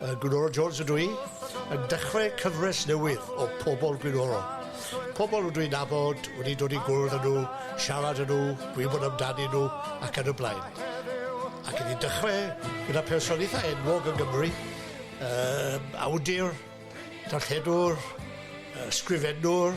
Yy Gwynorol Jones ydw i yn dechre cyfres newydd o Pobol Gwynorol. Pobol rydw i'n nabod, wedi dod i gwrdd â nhw, siarad â nhw, gwybod amdanyn nhw ac yn y blaen. Ac i ni dechre gyda person eitha enwog yng Nghymru, yy awdur, darlledwr, yy sgrifennwr,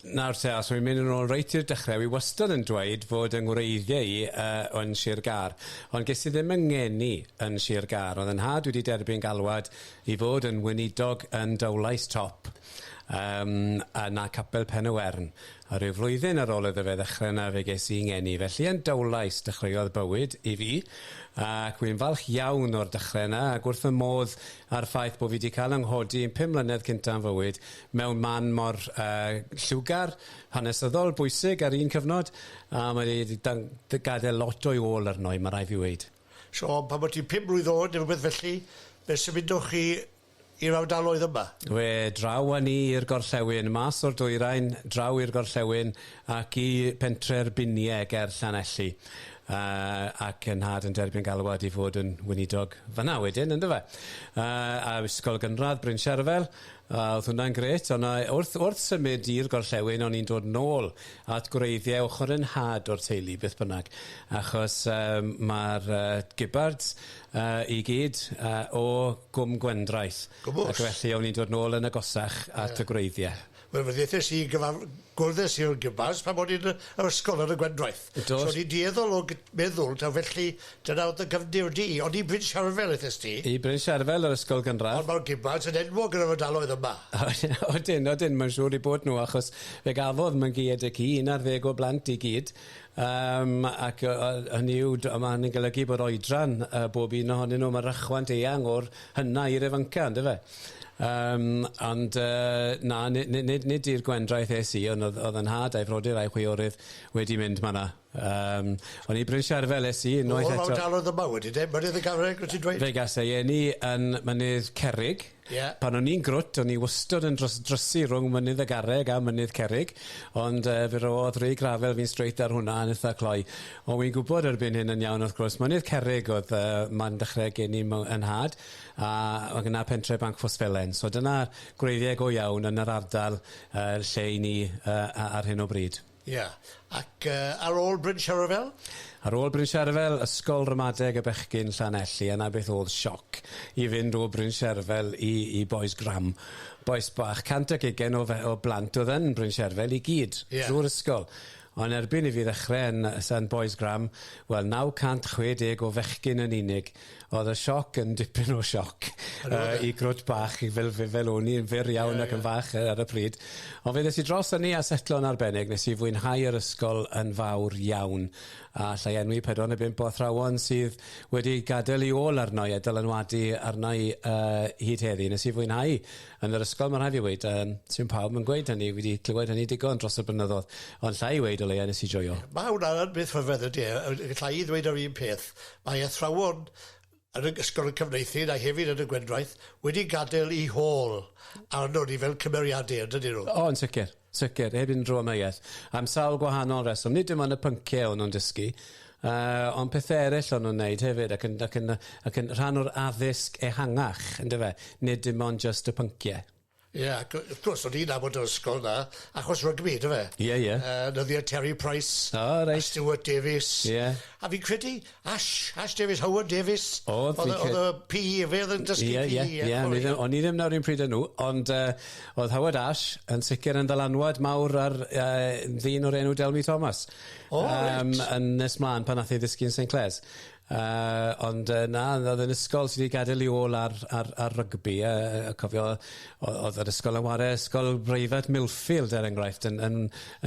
Nawr te, os wi'n mynd yn ôl reit i'r dechrau, wi wastad yn dweud fod yng ngwreiddiau i uh, yn Sir Gar, ond ges i ddim yng ngeni yn Sir Gar. Oedd yn nhad wedi derbyn galwad i fod yn weinidog yn Dowlais Top um, a na Capel Pen y Wern. A rhyw flwyddyn ar ôl iddo fe ddechrau yna fe ges i ngeni. Felly yn Dowlais dechreuodd bywyd i fi ac wi'n falch iawn o'r dechrau yna ac wrth fy modd â'r ffaith bod fi wedi cael yng nghodi yn pum mlynedd cynta yn fywyd mewn man mor yy lliwgar, hanesyddol, bwysig ar un cyfnod a mae 'di d- dan- d- gadel lot o'i ôl arno i ma' rai' fi weud. So pan bo' ti'n pum mlwydd oed ne' rwbeth felly fe symudoch chi i'r ardaloedd yma? We draw â ni i'r gorllewin, mas o'r dwyrain, draw i'r gorllewin ac i pentre'r Binie ger Llanelli yy ac 'yn nhad yn derbyn galwad i fod yn weinidog fan'na wedyn yndyfe? Yy a ysgol gynradd Bryn Sherfel A, oedd hwnna'n grêt. Ond yy wrth wrth symud i'r gorllewin o'n i'n dod nôl at gwreiddiau ochr 'y nhad o'r teulu beth bynnag achos yym ma'r yy Gibbards yy i gyd yy o Gwm Gwendraeth. Gwmws. Ac felly o'n i'n dod nôl yn agosach at y gwreiddiau. Wel fe ddeuthes i gyfar- Gwrddais i'r Gymars pan o'n i'n yr ysgol ar y Gwendraeth. Do. So o'n i'n dueddol o gy- meddwl taw felly dyna o'dd dy gyfndir di. O'n i Bryn Siarfel ethes ti. I Bryn Siarfel yr ysgol gynradd. Ond ma'r Gymars yn enwog yn yr ardaloedd yma. Odyn odyn mae'n siŵr i bod nhw achos fe gafodd Mangeued y ci un ar ddeg o blant i gyd yym ac yy yy hynny yw d- a ma' hynny'n golygu bod oedran yy bob un ohonyn nhw ma' rychwant eang o'r Hynna i'r ifanca yndyfe? Yym ond yy na ni- ni- nid nid i'r gwendraeth es i on' o'dd o'dd 'yn nhad a'i frodyr a'i chwiorydd wedi mynd ma' 'na yym on' i Bryn Sherfel es i unwaith eto. O fel talodd yma wedyn de? Mynydd y Garreg wyt ti'n dweud? Fe gas ei eni yn Mynydd Cerrig. Ie. Pan o'n i'n grwt o'n i wystod yn dros- drysu rwng Mynydd y Garreg a Mynydd Cerrig ond yy fe ro'dd Ray Gravell fi'n straight ar hwnna yn itha cloi. O'n i'n gwybod erbyn hyn yn iawn wrth gwrs Mynydd Cerrig oedd yy man dechre gen i mo- 'yn nhad a oedd gynna pentre Bancffos Felen so dyna gwreiddiau go iawn yn yr ardal yy lle 'yn ni yy a- ar hyn o bryd. Ia ac yy ar ôl Bryn Sherefel? Ar ôl Bryn Sherefel ysgol ramadeg y bechgyn Llanelli a 'na beth o'dd sioc i fynd o Bryn Sherefel i i Bois Gram bois bach cant ac ugain o fe- o blant o'dd yn Bryn Sherefel i gyd. Ia. Drw'r ysgol. Ond erbyn i fi ddechrau yn Saint Boys Gram, wel 960 o fechgyn yn unig, oedd y sioc yn dipyn o sioc yy i grwt bach fel fi fel wn i yn fyr iawn ac yn fach yy ar y pryd. Ond fe ddes i dros ynni a setlo yn arbennig, nes i fwynhau yr ysgol yn fawr iawn, a alla i enwi pedwar neu bump o athrawon sydd wedi gadel 'u ôl arna i a dylanwadu arna i yy hyd heddi. Nes i fwynhau Yn yr ysgol, mae'n rhaid fi weud, um, sy'n pawb yn gweud hynny, wedi clywed hynny digon dros y blynyddoedd, ond llai i weud o leia nes i joio. Mae hwnna'n beth rhyfedd ydy e, llai i ddweud yr un peth. Mae athrawon yn y ysgol y cyfneithu a hefyd yn y gwendraeth wedi gadael i hôl arno ni fel cymeriadau, ydyn nhw? O, yn sicr. Sicr, heb unrhyw amheuaeth. Am sawl gwahanol reswm. Nid dim ond y pynciau o'n nhw'n dysgu, uh, ond pethau eraill o'n nhw'n wneud hefyd, ac yn, ac, yn, ac yn rhan o'r addysg ehangach, ynddo fe? Nid dim ond just y pynciau. Ie, yeah, ac wrth gwrs, o'n i'n nabod yr ysgol na, achos rygbi, dwi fe? Ie, ie. Uh, nyddiau Terry Price, oh, right. a Stuart Davies. Ie. Yeah. A fi'n credu, Ash, Ash Davies, Howard Davies. O'dd fi cy-... O'dd y Pee Ee efe o'dd yn dysgu Pee Ee ie? Ie ie ie o'n i ddim o'n i ddim 'na 'r un pryd â nhw ond yy o'dd Howard Ash yn sicir yn ddylanwad mawr ar yy ddyn o'r enw Delmy Thomas. O reit. Yym yn nes mlan pan nath e ddysgu yn Saint Clair's. Yy ond yy na o'dd e'n ysgol sy 'di gadel 'i ôl ar ar ar rygbi yy yy cofio o- o'dd yr ysgol yn ware ysgol breifat Millfield er enghraifft yn yn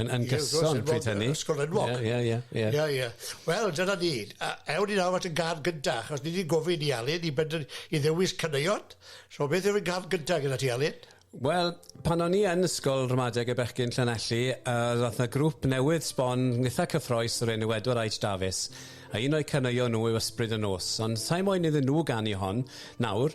Yn yn gyson pryd hynny. Ie ysgol enwog. Ie ie ie ie. Ie ie. Wel dyna ni. A ewn ni nawr at y gân gynta achos ni 'di gofyn i Alun i bender- i ddewis caneuon. So beth yw'r gân gynta gyda ti Alun? Wel pan o'n i yn ysgol ramadeg y bechgyn Llanelli yy ro'th 'na grŵp newydd sbon itha cyffrous o'r enw Edward Aitch Dafis a un o'u caneuon nhw yw Ysbryd y Nos ond sai moyn iddyn nhw ganu hon nawr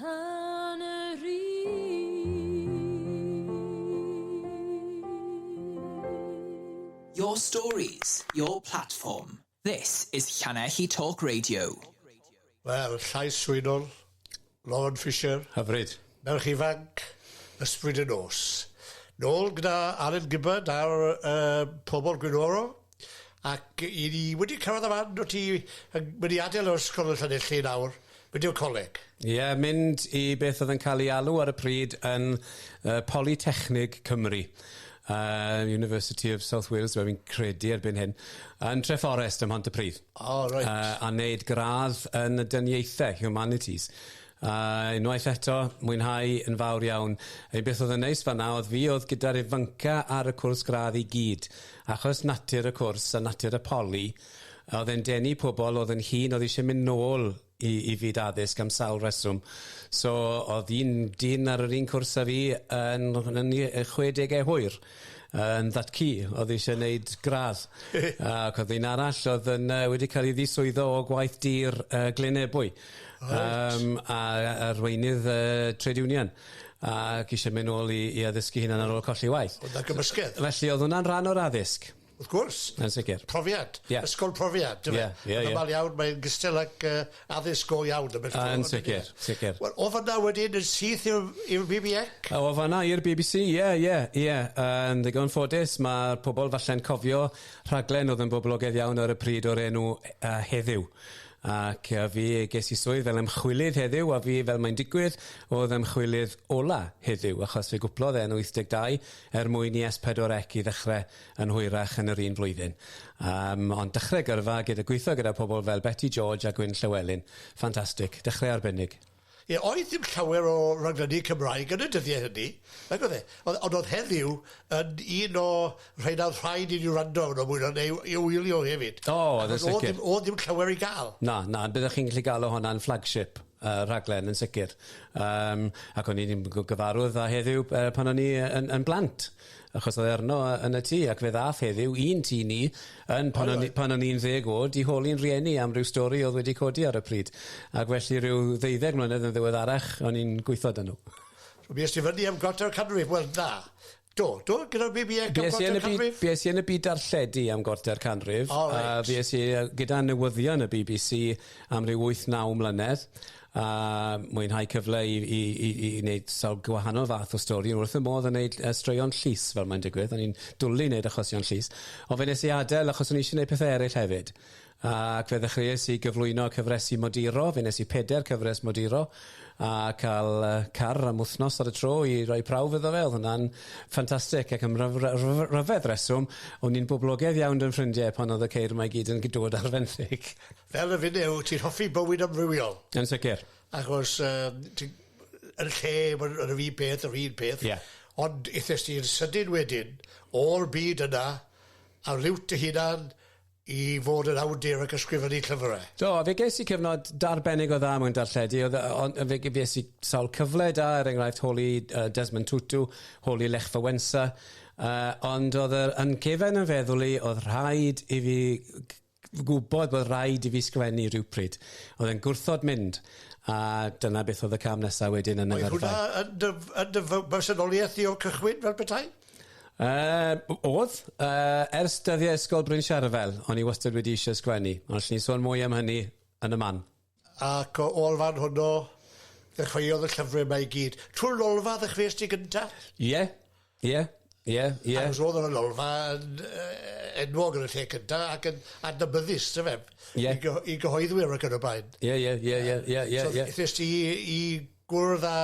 Yn yr un. Your stories, your platform. This is Llanelli Talk Radio. Wel, llais swynol, Lon Fisher. Hyfryd. Merch ifanc, ysbryd y nos. Nôl gyda Alun Gibbard a'r uh, pobl gwynoro. Ac 'y ni wedi cyrraedd y fan wyt ti yn mynd i adael yr ysgol yn Llanelli nawr, mynd i'r coleg? Ie, mynd i beth oedd yn cael ei alw ar y pryd yn yy Polytechnig Cymru, yy University of South Wales dw i'n credu erbyn hyn, yn Treforest ym Mhontypridd. O reit. Yy a neud gradd yn y dyniaethau, Humanities. A unwaith eto, mwynhau yn fawr iawn. Ein beth oedd yn neis fanna oedd fi oedd gyda'r ifanca ar y cwrs gradd i gyd. Achos natur y cwrs a natur y poli, oedd e'n denu pobl oedd yn hŷn oedd eisiau mynd nôl i, i fyd addysg am sawl reswm. So oedd un dyn ar yr un cwrs a fi yn, yn 60au hwyr. yn that key oedd eisiau gwneud gradd ac oedd un arall oedd yn uh, wedi cael ei ddiswyddo o gwaith dir uh, Glyn Ebwy right. um, a arweinydd uh, trade union ac eisiau mynd nôl i, i addysgu hynna'n ar ôl colli waith. Oedd na gymysgedd? Felly oedd hwnna'n rhan o'r addysg. Wrth gwrs. Yn sicr. Profiad. Yeah. Ysgol profiad. Ie, ie, ie. Yn iawn, mae'n gystal ac uh, addysg go iawn. Yn sicr, sicr. Wel, o fanna wedyn yn syth i'r BBX? O fanna i'r BBC, ie, yeah, ie, yeah, ie. Yeah. Uh, yn ddigon ffodus, mae pobl falle'n cofio rhaglen oedd yn boblogaidd iawn ar y pryd o'r enw uh, Heddiw ac uh, fi ges i swydd fel ymchwilydd heddiw a fi fel mae'n digwydd oedd ymchwilydd ola heddiw achos fe gwplodd e'n 82 er mwyn i S4C i ddechrau yn hwyrach yn yr un flwyddyn. Yym, ond dechrau gyrfa gyda gweithio gyda pobl fel Beti George a Gwyn Llewelyn. Ffantastig. Dechrau arbennig. Ie, oedd ddim llawer o raglenni Cymraeg yn y dyddiau hynny, nag oedd e? Ond ond oedd heddiw yn un o rhain a oedd rhaid i ni wrando arno mwy na neu i wylio hefyd. O, oedd yn sicr. Oedd ddim, oedd ddim llawer i gael. Na, na, ond byddwch chi'n gallu gael o hwnna'n flagship uh, rhaglen yn sicr. Um, ac o'n i'n gyfarwydd â heddiw uh, pan o'n i yn, yn blant. Achos oedd e arno yy yn y tŷ ac fe ddath heddiw i'n tŷ ni yn pan o'n i pan o'n i'n ddeg o'd i holi'n rhieni am ryw stori o'dd wedi codi ar y pryd ac felly ryw ddeuddeg mlynedd yn ddiweddarach o'n i'n gweitho 'da nw. So fues ti fyny am Gortel Canrif? Wel na. Do, do, gyda'r Bi Bi Ec am Gortel Canrif? Bues i yn y byd bues i yn y byd darlledu am Gortler Canrif. O reit. A fues i yy gyda newyddion y Bee Bee See am ryw wyth naw mlynedd a mwynhau cyfle i i i i i neud sawl gwahanol fath o stori wrth fy modd yn neud yy straeon llys fel mae'n digwydd o'n i'n dwli neud achosion llys on' fe nes i adel achos o'n i isie neud pethe eryll hefyd ac fe ddechreues i gyflwyno cyfresi moduro fe nes i peder cyfres moduro a ca'l yy car am wthnos ar y tro i roi prawf iddo fe o'dd hwnna'n ffantastic ac am ryf- ry- ry- ryfedd reswm o'n i'n boblogedd iawn 'dy 'yn ffrindie pan o'dd y ceir 'ma i gyd yn gy- dod ar fenthyg. Fel y fideo, ti'n hoffi bywyd amrywiol. Yn sicr. Achos um, ti, yn lle bod yr un peth, yr un peth. Yeah. Ond eithes ti'n sydyn wedyn o'r byd yna a liwt dy hunan i fod yn awdur ac ysgrifennu llyfrau. Do, a fe ges i cyfnod darbennig o dda mewn darlledu, oedd ond fe ges i sawl cyfle da, er enghraifft holi uh, Desmond Tutu, holi Lech Fawensa, uh, ond oedd yr yn cefen yn feddwl i oedd rhaid i fi gwybod bod rhaid i fi sgwennu rhywpryd. Oedd e'n gwrthod mynd, a dyna beth oedd y cam nesaf wedyn yn y Oedd hwnna yn dy, yn dy bersonoliaeth di o'r cychwyn fel petai? Uh, oedd, uh, ers dyddiau ysgol Bryn Siarfel, o'n i wastad wedi eisiau sgwennu, ond allwn ni sôn mwy am hynny yn y man. Ac o olfan honno ddechreuodd y llyfrau yma i gyd. Trwy'r lolfa ddechreuais ti gynta? Ie, ie, ie, ie. Ac os oedd yn y lolfa yn uh, enwog yn y lle cynta ac yn adnabyddus, dy fe, yeah. i, gyho i gyhoeddwyr ac yn y blaen. Ie, ie, ie, ie, ie, ie. So, ddys ti i gwrdd â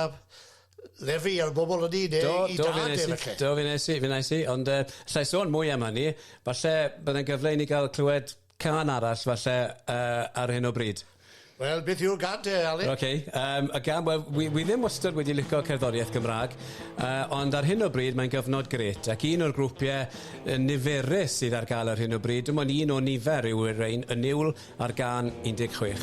lefi ar bobl yn un, do, i do, dad e felly. Do, fi'n eisi, fi'n eisi, ond uh, lle sôn mwy am hynny, falle byddai'n gyfle i ni gael clywed Cân arall falle yy ar hyn o bryd. Wel beth yw'r gân te Alun? Ok yym y gân wel wi wi ddim wastod wedi lico cerddoriaeth Gymrâg yy ond ar hyn o bryd mae'n gyfnod grêt ac un o'r grwpie yy niferus sydd ar ga'l ar hyn o bryd dim ond un o nifer yw y rein y niwl a'r gân 16.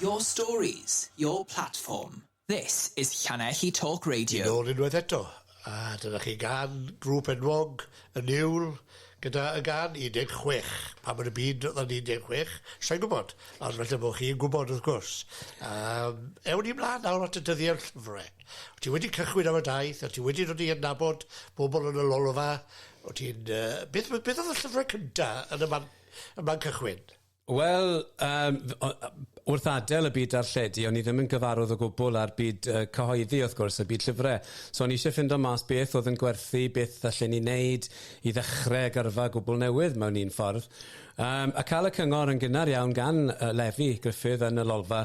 Your stories, your platform. This is Llanelli Talk Radio. Yn ôl unwaith eto, a dyna chi gan grŵp enwog y niwl gyda y gan 16. Pa mor y byd oedd o'n 16? Sa'n gwybod, ond felly bod chi'n gwybod wrth gwrs. Um, ewn ni mlaen nawr at y dyddiau'r llyfrau. O't ti wedi cychwyn am y daith, o't ti wedi dod i adnabod bobl yn y lolfa, o't ti'n... Yy, beth, beth oedd y llyfrau cynta yn y man, y man cychwyn? Wel, um, wrth adael y byd darlledu, o'n i ddim yn gyfarwydd o gwbl â'r byd uh, cyhoeddi, wrth gwrs, y byd llyfrau. So o'n i eisiau ffindo mas beth oedd yn gwerthu, beth allan ni wneud i ddechrau gyrfa gwbl newydd mewn un ffordd. Um, a cael y cyngor yn gynnar iawn gan uh, Lefi Griffith yn y lolfa,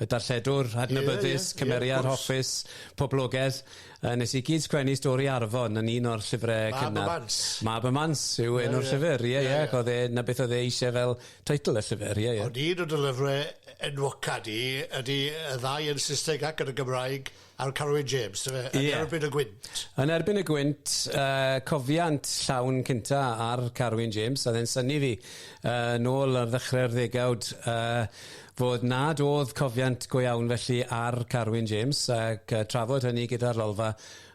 y darlledwr adnabyddus, cymeriad hoffus, poblogaidd. Yy nes i gyd sgwennu stori Arfon yn un o'r llyfre cynnar. Mab y Mans. Mab y Mans yw yeah, enw'r yeah. llyfr. Ie, yeah, ie. Yeah. Yeah. Oedd e, na beth oedd e eisiau fel teitl y llyfr, ie, yeah, ie. Yeah. Ond un o dy lyfrau enwoca di ydy y ddau yn Saesneg ac yn y Gymraeg. Ar Carew James dyfe? Ie. Yn erbyn y gwynt. Yn erbyn y gwynt, uh, cofiant llawn cynta ar Carew James, a ddyn syni fi uh, nôl ar ddechrau'r ddegawd uh, fod nad oedd cofiant go iawn felly ar Carwyn James ac uh, trafod hynny gyda'r lolfa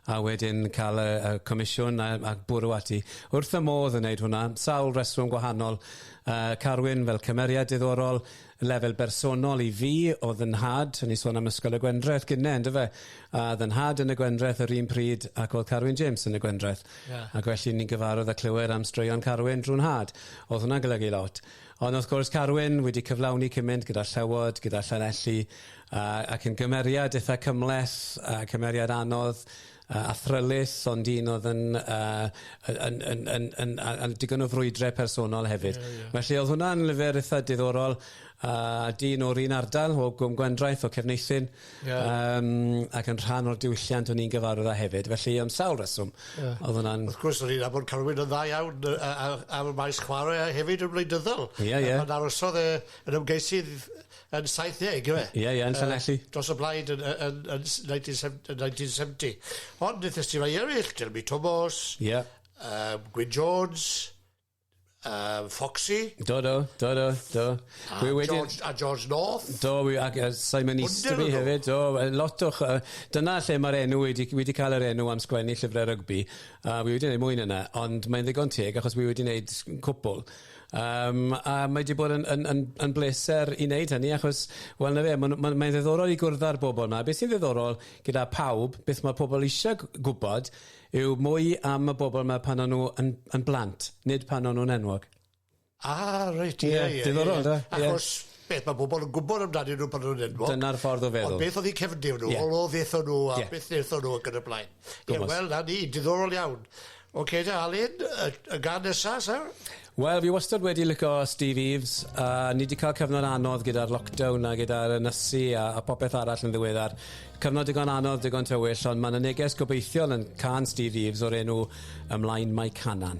a wedyn cael y, y comisiwn a, a bwrw ati. Wrth y modd yn wneud hwnna, sawl reswm gwahanol. Uh, Carwyn fel cymeriad diddorol, Y lefel bersonol i fi o fy nhad, o'n i'n sôn am Ysgol y Gwendraeth gynne on'd yfe? A o'dd 'y nhad yn y Gwendraeth yr un pryd ac o'dd Carwyn James yn y Gwendraeth. Ie. Ac felly ni'n gyfarwdd a clywed am straeon Carwyn drw nhad. O'dd hwnna'n golygu lot. Ond wrth gwrs Carwyn wedi cyflawni cymynt gyda Llewod, gyda Llanelli a ac yn gymeriad itha cymhleth a cymeriad anodd yy athrylith ond un oedd yn yy yn yn yn yn a- a- digon o frwydre personol hefyd. Ie ie. Felly o'dd hwnna'n lyfr itha diddorol a dyn o'r un ardal o Gwm Gwendraeth o Cefneithin. Ie. Yym ac yn rhan o'r diwylliant o'n i'n gyfarwydd â hefyd felly am sawl reswm. Ie. O'dd hwnna'n... Wrth gwrs o'n i'n nabod Carwyn yn dda iawn yy a- a- ar y maes chware a hefyd yn wleidyddol. Ie ie. Pan arosodd e yn ymgeisydd yn 70, yw e? Ie, ie, yn Llanelli. Uh, dros y blaid yn, yn, yn, 1970. Ond wnaethas ti rai eraill, Jeremy Thomas, yeah. um, Gwyn Jones, um, Foxy. Do, do, do, do, do. A, Gwy wedyn, George, a George North. Do, wi, ac uh, Simon Easterby hefyd. Do, lot o... Uh, dyna lle mae'r enw wedi, wedi cael yr enw am sgwennu llyfrau rygbi. A uh, wi wedi gwneud mwy yna, ond mae'n ddigon teg achos wi wedi gwneud cwpl. Yym a mae 'di bod yn yn yn yn bleser i wneud hynny achos wel 'na fe ma' nw ma' mae'n ddiddorol i gwrdd â'r bobl 'ma. Be' sy'n ddiddorol gyda pawb beth ma' pobl isie g- gwbod yw mwy am y bobl 'ma pan o'n nw yn yn blant nid pan o'n nw'n enwog. Ah reit ie ie. Ie diddorol on'd yw e? Ie. Achos beth ma' pobol yn gwbod amdanyn nw pan o'n nw'n enwog. Dyna'r ffordd o feddwl. Ond beth o'dd 'u cefndir nw? Ie. O o fe 'thon nw a... Ie. ...beth nethon nw ac yn y blaen. Ie wel 'na ni, diddorol iawn. Ocê te Alun, y y gân nesa sir? Wel fi wastad wedi lico Steve Eaves a ni 'di cael cyfnod anodd gyda'r lockdown a gyda'r ynysu a a popeth arall yn ddiweddar. Cyfnod digon anodd, digon tywyll ond ma' 'na neges gobeithiol yn cân Steve Eaves o'r enw Ymlaen Mae Canan.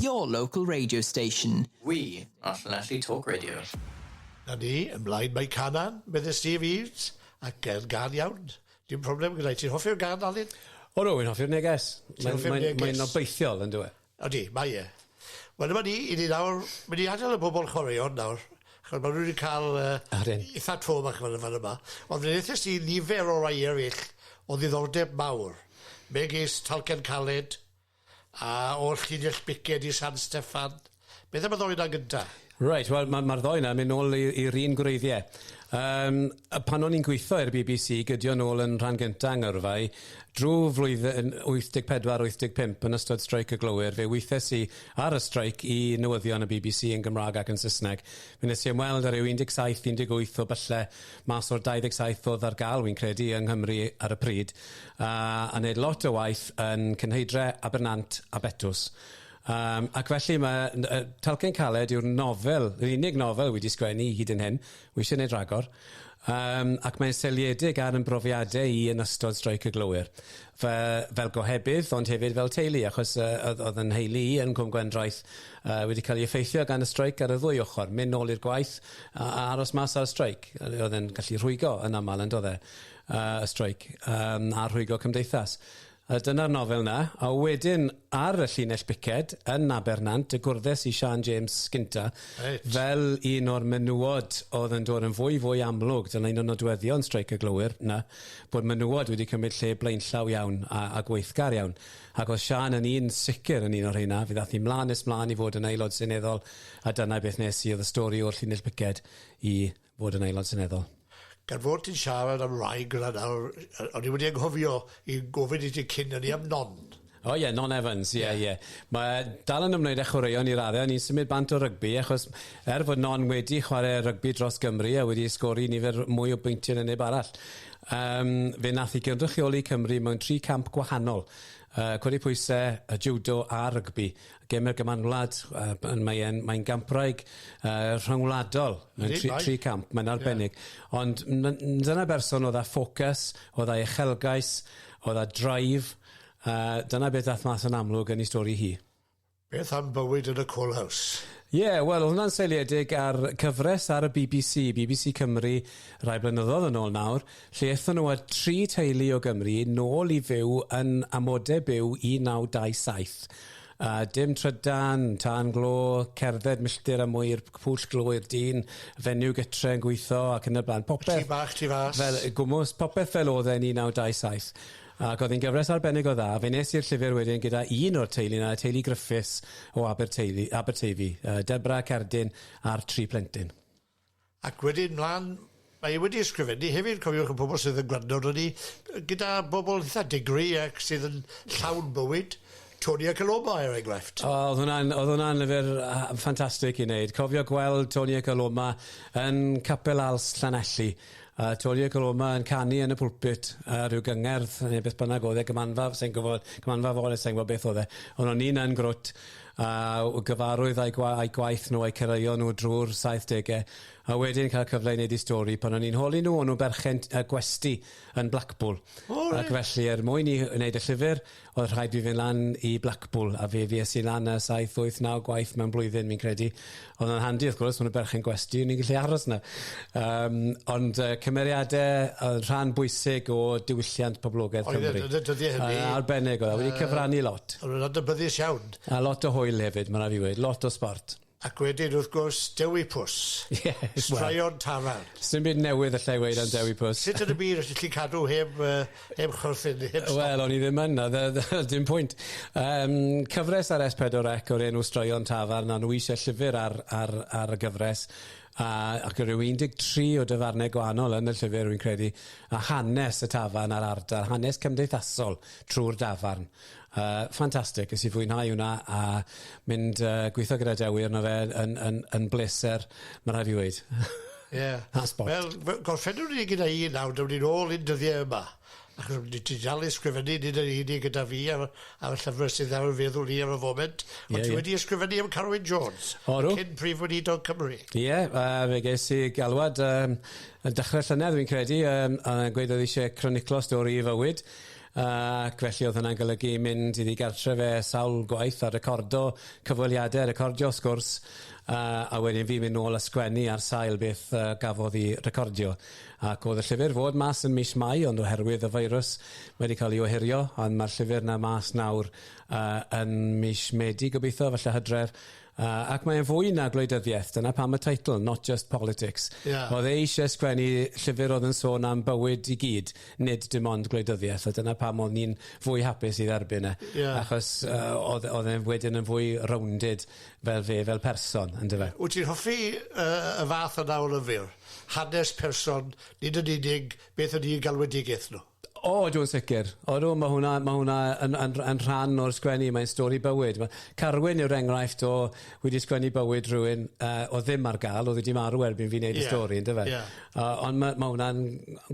Your local radio station. We are Llanelli Talk Radio. Na ni, ymlaen mae Canan, medde Steve Eaves, ac yn gan iawn. Dim problem gyda'i ti'n hoffi'r gan, Alun? O no, wy'n hoffi'r neges. Ti'n hoffi'r neges? Mae'n obeithiol, yn dweud. Ydi, mae e. Wel dyma ni, i ni nawr mynd i adel y bobol chwaraeon nawr, ch'od ma' nw wedi ca'l yy... Yr hyn. ...itha tro bach fan y- fan yma, ond fe ddethes i nifer o rai eryll o ddiddordeb mawr, megis Talcen Caled, a o'r llinell biced i San Steffan, beth am y ddou 'na gynta? Reit, wel ma' ma'r ddou 'na yn myn' nôl i i'r un gwreiddie. Yym yy pan o'n i'n gwitho i'r Bee Bee See gydio nôl yn rhan gynta 'Ngyrfau, drw flwyddyn 84, 85 yn ystod streic y glowyr, fe withes i ar y streic i newyddion y Bee Bee See yn Gymrâg ac yn Sysneg. Mi nes i ymweld â ryw 17, 18 o bylle mas o'r 27 o'dd ar ga'l, wi'n credu, yng Nghymru ar y pryd, a a neud lot o waith yn Cynheidre, Abernant a Betws. Yym, ac felly mae n- yy Talcen Caled yw'r nofel, yr unig nofel wi 'di sgwennu hyd yn hyn, wi isie neud rhagor, yym ac mae'n seiliedig ar 'yn brofiade i yn ystod Streic y Glowyr. Fy fel gohebydd ond hefyd fel teulu achos yy o'dd o'dd 'yn nheulu i yn Cwm Gwendraeth yy wedi ca'l 'i effeithio gan y streic ar y ddwy ochor, myn' nôl i'r gwaith a a aros mas ar y streic. Yy o'dd e'n gallu rhwygo yn amal yndodd e? Yy y streic yym a rhwygo cymdeithas. A dyna'r nofel 'na. A wedyn ar y llinell biced yn Abernant y gwrddes i Siân James gynta. Reit. Fel un o'r menywod oedd yn dod yn fwy fwy amlwg, dyna un o nodweddion Streic y Glowyr 'na, bod menywod wedi cymryd lle blaenllaw iawn a a gweithgar iawn. Ac oedd Siân yn un sicr yn un o'r rheina, fe ddath hi mlan nes mlan i fod yn Aelod Seneddol a dyna beth nes i, oedd y stori o'r llinell biced i fod yn Aelod Seneddol. Gan fod ti'n siarad am wraig gyda nawr, yy o'n i wedi anghofio i gofyn i ti cyn hynny am Non. O ie, Non Evans, ie, ie. Mae dal yn ymwneud â chwaraeon i raddau, o'n i'n symud bant o rygbi achos er fod Non wedi chwarae rygbi dros Gymru a wedi sgori nifer mwy o bwyntiau na neb arall, um, fe nath i gynrychioli Cymru mewn tri camp gwahanol, uh, codi pwysau, y judo a rygbi, Gemau'r Gymanwlad, uh, mae e'n mae'n gampraig uh, rhyngwladol, mae'n tri, tri camp, mae'n arbennig. Yeah. Ond dyna berson oedd â ffocws, oedd â uchelgais, oedd â drive, uh, dyna beth ddath mas yn amlwg yn ei stori hi. Beth am bywyd yn y Coal House? Ie, yeah, wel, hwnna'n seiliedig ar cyfres ar y BBC, BBC Cymru, rai blynyddoedd yn ôl nawr, lle aethon nhw â tri teulu o Gymru nôl i fyw yn amodau byw 1927. A dim trydan, tân glo, cerdded milltir a mwy i'r pwll glo i'r dyn, fenyw gytre yn gweithio ac yn y blaen. Popeth... Tŷ bach tu fas. Fel gwmws, popeth fel oedd e yn 1927. Ac oedd hi'n gyfres arbennig o dda. Fe nes i'r llyfr wedyn gyda un o'r teulu 'na, y teulu Griffiths o Aberteulu- Aberteifi, yy Deborah, Cerdyn a'r tri plentyn. Ac wedyn mlan, mae e wedi ysgrifennu hefyd, cofiwch y pobl sydd yn gwrando arnon ni, gyda bobl eitha digri ac sydd yn llawn bywyd, Tony ac Aloma er enghraifft. O o'dd hwnna'n o'dd hwnna'n lyfr yy ffantastig i neud. Cofio gweld Tony ac Aloma yn Capel Als Llanelli a Tony ac Aloma yn canu yn y pulpit ar ryw gyngerdd ne' beth bynnag o'dd e, gymanfa sai'n gwbod, cymanfa fore sai'n gwbod beth o'dd e, on' o'n i'n yn grwt a gyfarwydd â'u gwa- â'u gwaith nhw a'u cyrraeon nhw drwy'r saithdegau, a wedyn cael cyfle i wneud eu stori pan o'n i'n holi nhw, o'n nhw'n berchen y gwesty yn Blackpool. O reit. Ac felly er mwyn i wneud y llyfr, oedd rhaid fi fynd lan i Blackpool, a fe fues i lan y saith, wyth, naw gwaith mewn blwyddyn fi'n credu, Oedd hwnna'n handi wrth gwrs, mae'n berchen gwesti, ni'n gallu aros yna. Um, ond uh, cymeriadau yn rhan bwysig o diwylliant poblogaeth oedd Cymru. Oedd e, dydy e hynny. Uh, arbennig oedd e, wedi cyfrannu lot. Oedd e'n dybyddus iawn. A lot o hwyl hefyd, mae'n rhaid i wedi, lot o sport. Ac wedyn, wrth gwrs, Dewi Pws. Yeah, Straeon well, Taran. Sdim byd newydd allai weid am Dewi Pws. Sut yn y byd ydych chi'n cadw heb uh, heb chwerthin heb stop. Wel o'n i ddim yn na fe- fel dim pwynt. Yym cyfres ar Es Pedwar Ec o'r enw Straeon Tafarn a nhw isie llyfyr ar ar ar y gyfres a ac o ryw 13 o dyfarne gwahanol yn y llyfyr rwy'n credu a hanes y tafarn a'r ardal hanes cymdeithasol trw'r dafarn Yy fantastic nes i fwynhau hwnna a mynd yy gwitho gyda Dewi arno fe yn yn yn bleser ma' rai' fi weud. Ie. A sbort. Wel fe- gorffennwn ni gyda un nawr dewn ni nôl i'n dyddie yma achos w- nit ti dal i ysgrifennu nid yn unig gyda fi ar y ar y llyfre sydd ar y feddwl i ar y foment ond... Ie ie. ...ti wedi ysgrifennu am Carwyn Jones. O do. Cyn Prif Weinidog Cymru. Ie yy fe ges i galwad yym yn dechre llynedd fi'n credu yym a gweud o'dd isie croniclo stori 'i fywyd Ac felly oedd hwnna'n golygu mynd iddi gartre fe sawl gwaith a recordo cyfweliadau, recordio sgwrs, a, a wedyn fi mynd nôl a sgwennu ar sail beth uh, gafodd i recordio. Ac oedd y llyfr fod mas yn mis Mai, ond oherwydd y feirws wedi cael ei ohirio, ond mae'r llyfr na mas nawr uh, yn mis Medi gobeithio, falle hydref, A, ac mae'n fwy na gwleidyddiaeth, dyna pam y teitl, Not Just Politics. Ie. Oedd e eisiau sgwennu llyfr oedd yn sôn am bywyd i gyd, nid dim ond gwleidyddiaeth, a dyna pam oedd ni'n fwy hapus i dderbyn e. Ie. Achos yy oedd oedd e'n wedyn yn fwy rounded fel fe fel person, yndyfe? Wyt ti'n hoffi yy y fath yna o lyfr? Hanes person, nid yn unig beth ydi galwedigaeth nhw? O, ydw yn sicr. Odw, mae hwnna, mae hwnna yn, yn, yn rhan o'r sgwennu, mae'n stori bywyd. Mae Carwyn yw'r enghraifft o wedi sgwennu bywyd rhywun uh, o ddim ar gael, oedd wedi marw erbyn fi wneud yeah. y stori, ynddo fe? Yeah. Uh, ond mae, mae hwnna'n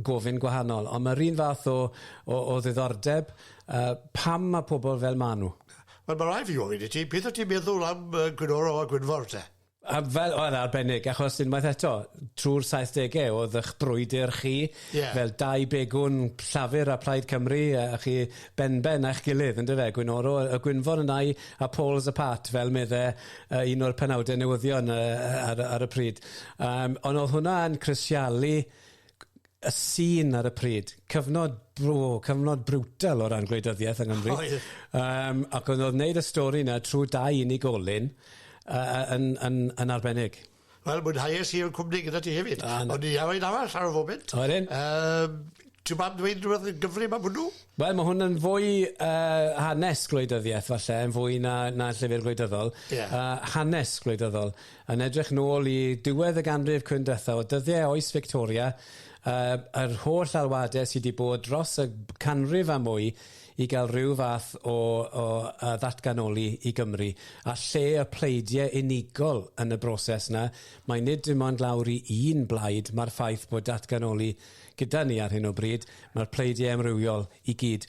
gofyn gwahanol. Ond mae'r un fath o, o, o ddiddordeb, uh, pam mae pobl fel maen nhw? Wel, mae rai fi gofyn i ti, beth o ti'n meddwl am uh, Gwynorol a Gwynfor te? A fel, oedd e arbennig, achos unwaith eto, trwy'r saithdegau oedd eich brwydr chi... Ie. ...fel dau begwn Llafur a Plaid Cymru, a a chi benben â'ch gilydd, yn dyfe, Gwyn Oro, y Gwynfor yna i, a poles apart, fel medde yy un o'r penawdau newyddion yy yy ar y ar y pryd. Yym, ond oedd hwnna yn crisialu y sîn ar y pryd. Cyfnod, o, cyfnod brutal o ran gwleidyddiaeth yng Nghymru. Oedd. Um, ac oedd oedd wneud y stori yna trwy dau unigolyn uh, yn, yn, yn arbennig. Wel, mwynhauais i yn cwmni gyda ti hefyd. Ah, Ond i awen arall ar y foment. Oedd yn. Um, Ti'n ma'n dweud rhywbeth yn gyfrif am hwnnw? Wel, mae hwn yn fwy uh, hanes gwleidyddiaeth falle, yn fwy na, na llyfr gwleidyddol. Yeah. Uh, hanes gwleidyddol. Yn edrych nôl i ddiwedd y ganrif cwndethau, o dyddiau oes Fictoria, yr holl alwadau sydd wedi bod dros y canrif a mwy i gael rhyw fath o ddatganoli i Gymru, a lle y pleidiau unigol yn y broses yna, mae nid dim ond lawr i un blaid mae'r ffaith bod datganoli gyda ni ar hyn o bryd, mae'r pleidiau amrywiol i gyd.